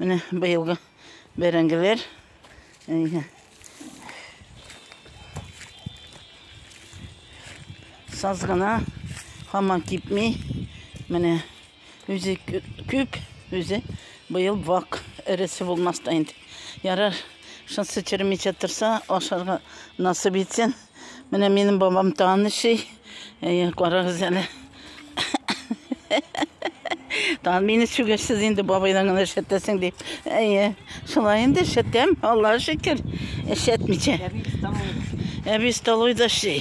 Менә быелгы бәрәңгеләр. Саз гына, хаман кипми. Менә үзе күп, үзе быел вак эресе булмас та инде. Ярар, шунсы черемичә торса, ашарга насып итсен. Менә минем бабам тан эшли. Әйе, карагыз әле. Тан мине сүгерсез инде бабайдан гына эшәтәсең дип. Әйе, шулай инде эшәтәм, Аллаһ шөкер. Эшәтмичә. Әби столойда эшли,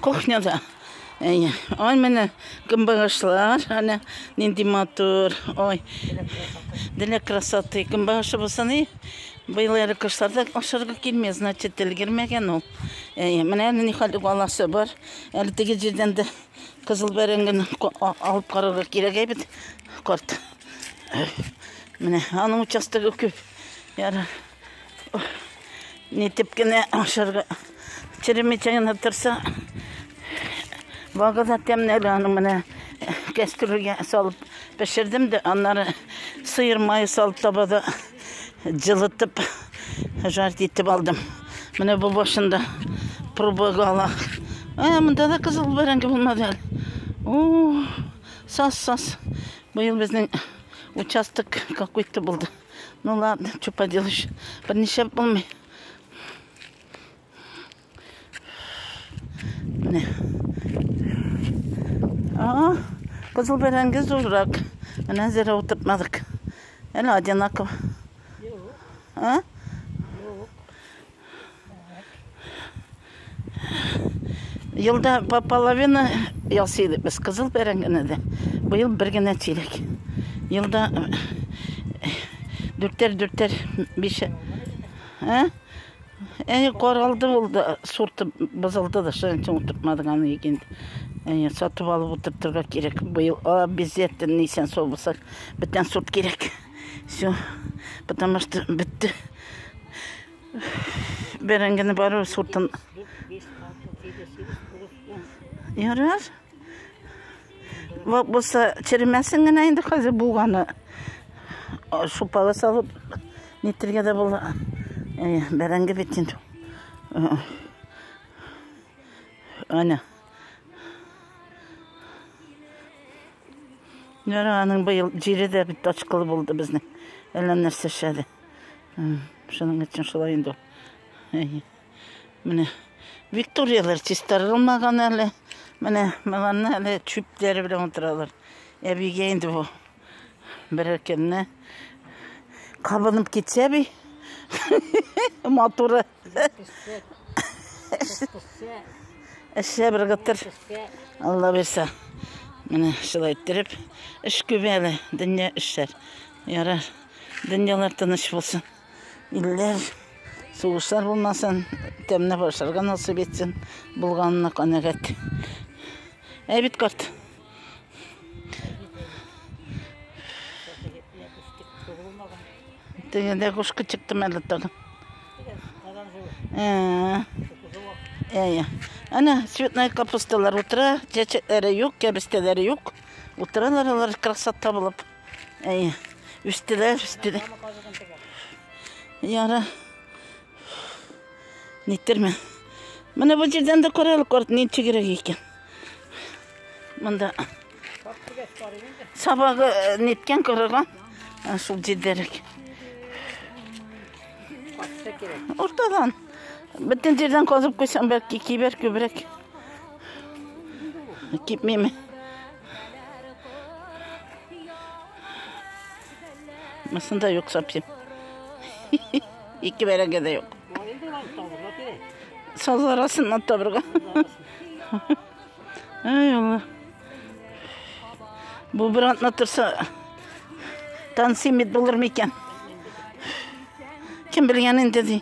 кухняда. Әйе. Ой, менә көнбагышлар, әнә нинди матур. Ой. Дилә красоты. Көнбагышы булса ни? Быел әле кышларда ашарга килми, значит, өлгермәгән ул. Әйе, менә әле нихәл баласы бар. Әле теге җирдән дә кызыл бәрәңгене алып карарга кирәк әйбит. Карт. Менә аның участогы күп. Яра. Нитеп кенә ашарга черемичә генә торса, багы да тәмле әле аның менә кәстрүлгә салып пешердем дә, аннары сыйыр мае салып табада Җылытып, жарить итеп алдым. Менә бу башында пробага ала. Ә, монда да кызыл бәрәңге булмады әле. О, сас, сас. Быел безнең участок какой-то булды. Ну ладно, что поделаешь. Берничә булмый. Менә. А, кызыл бәрәңге зуррак. Менә зәре утыртмадык. Әле одинаково. А? Елда по половина ясыйдык без кызыл бәрәңгене дә. Быел бер генә тирәк. Елда дүртәр-дүртәр биш. А? Әй, каралды ул да, сорты бозылды да, шуның өчен утыртмадык аны икенде. Әй, сатып алып утыртырга кирәк. Быел обязательно нисән сау булсак, бөтен сорт кирәк. Все. Потому что бетте. Бәрәңгене бару сортын. Ярар. Вот болса черемәсен генә инде хәзер булганы шупала салып нитергә дә була. Э, бәрәңге бит инде. Э, Ана. Нәре аның быел җире дә бит ачкылы булды безнең. Әллә нәрсә шәде. Шуның өчен шулай инде. Әйе. Менә Викторияләр чистарылмаган әле. Менә мыланна әле чүпләре белән утыралар. Әбигә инде бу берәр көнне кабынып китсә би. Матуры. Эшсә бер гытыр. Алла бирсә. Менә шулай иттереп, эш күп әле, дөнья эшләр. Ярар. Дөньялар тыныч булсын. Илләр сугышлар булмасын, тәмне борчарга насыйп итсен, булганына канәгать. Ә бит карт. Тегендә кушка чыкты мәле тагын. Әйе. Әнә цветная капусталар утыра, чәчәкләре юк, кәбестәләре юк. Утыралар алар красота булып. Әйе. Үстеләр, үстеләр. Яра. Ниттерме? Менә бу җирдән дә карал корт ни чигрәк икән. Монда сабагы э, ниткән корыган. Шул җирдәрәк. Уртадан. Бөтен җирдән казып куйсам, бәлки кибер күбрәк. Кипмиме? Мысын да юк совсем. Ике бәрәңге дә юк. Саз арасыннан табырга. Ай, Алла. Бу бер атна торса, танцимит булыр микән? Кем белгән инде ди.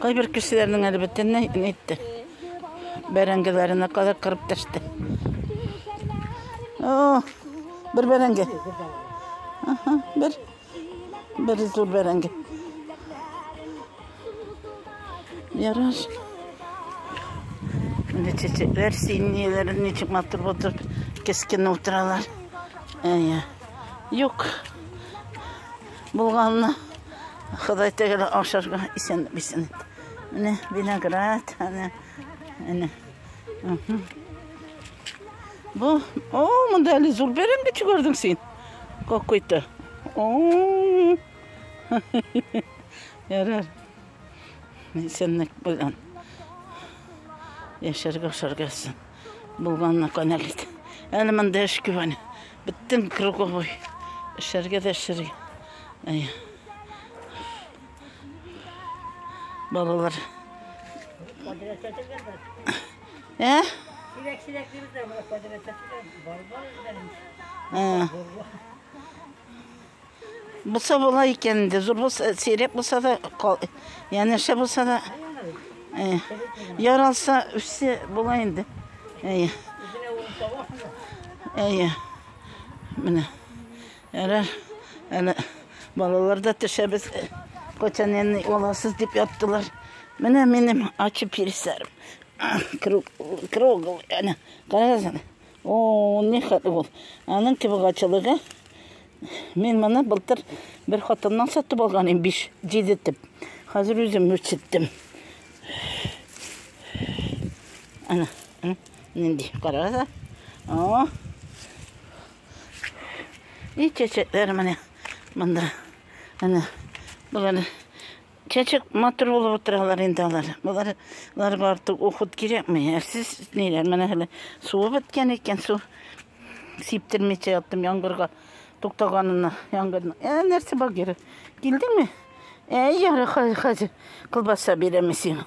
Кайбер кешеләрнең әле бөтенләй әйтте. Бәрәңгеләренә кадәр кырып төште. О, бер бәрәңге. Аха, бер. Бер зур бәрәңге. Яраш. Менә чәчәкләр синеләр ничек матур булып кескене утыралар. Әйе. Юк. Булганны Ходай тәгәлә ашарга исән бисен. Менә виноград, әнә. Әнә. Бу, о, монда әле зур бәрән бит күрдең син. Какой-то. О. Ярар. Исәнлек белән. Яшәргә ашарга исән. Булганына канәгать ит. Әле монда эш күп аны. Бөтен круговой. Эшләргә дә эшләргә. Әй. Балалар. Ә? Сирәк-сирәк дибез дә, бу квадрат әтиләр. Бар-бар үзләренчә. Ә. Булса була икән инде, зур булса, сирәк булса да, янәшә булса да, яралса, үссе була инде. Әйе. Әйе. Менә. Ярар. Әле балалар да төшәбез. Кочан әни оласыз дип яттылар. Менә минем ачы переселем. Круг, круг, әнә, карагыз О, ни хәтле ул. Аның кебек ачылыгы. Мин моны былтыр бер хатыннан сатып алган идем, 5-7 итеп. Хәзер үзем үрчеттем. Ана, ана, нинди, карагыза. О. И чәчәкләр менә монда. Ана, болар Чәчәк матур булып утыралар инде алар. Болар лар барту ухут кирәкме? Әрсез ниләр менә әле суы беткән икән су. Сиптермичә яттым яңгырга туктаганына яңгырны. Ә нәрсә багыр? Килдеңме? Әй, ярый хәзер колбаса бирәме сиңа?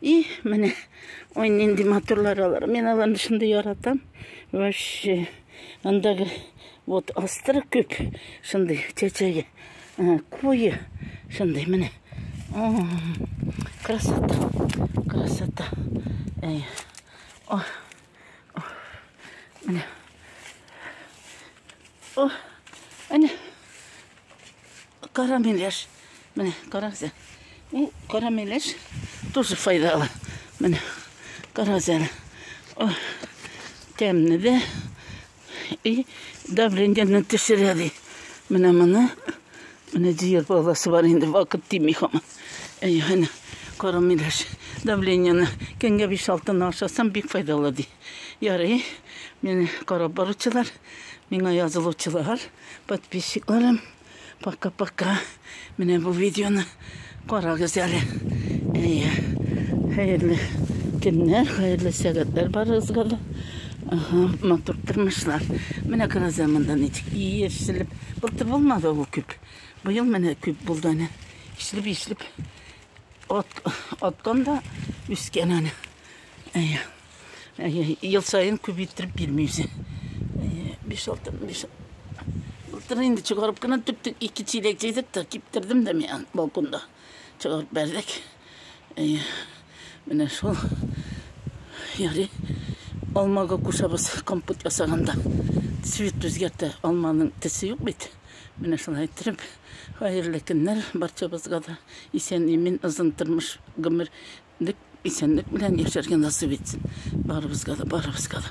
И, менә, ой, нинди матурлар алар. Мен аларны шундый яратам. Вообще, андагы вот астры күп, шундый чәчәге. Куе, шундый, менә. Красота, красота. Эй, о, Менә. О, әнә. Карамелеш. Менә, карагыз. Ул карамелеш тоже файдалы. Менә, карагыз әле. О, тәмне дә, И давлениене төшерә ди. Менә моны. Менә җыер баласы бар инде вакыт тими хаман. Әй, әнә, кара миләш. Давлениене көнгә 5-6 ашасам бик файдалы ди. Ярый. Мені карап баручылар, миңа язылучылар, подписчикларым. Пока-пока. Менә бу видеоны карагыз әле. Әйе. Хәерле көннәр, хәерле сәгатьләр барыгызга да. Ага, матур тормышлар. Менә караза монда ничек иешелеп. Былтыр булмады ул күп. Быел менә күп булды әнә. Ишлеп, ишлеп. От, откан да үскән әнә. Әйе. Ел саен күп иттереп бирми үзе. Биш алты, биш Былтыр инде чыгарып кына түктек, ике чиләк җыйдык та киптердем дә мен балконда. Чыгарып бәрдек. Менә шул ярый алмага кушабыз компот ясаганда. Цвет үзгәртә, алманың тесе юк бит. Менә шулай иттереп, хәерле көннәр барчабызга да. Исән-имин, озын тормыш, гомер Исәнлек белән яшәргә насыйп итсен барыбызга да, барыбызга да.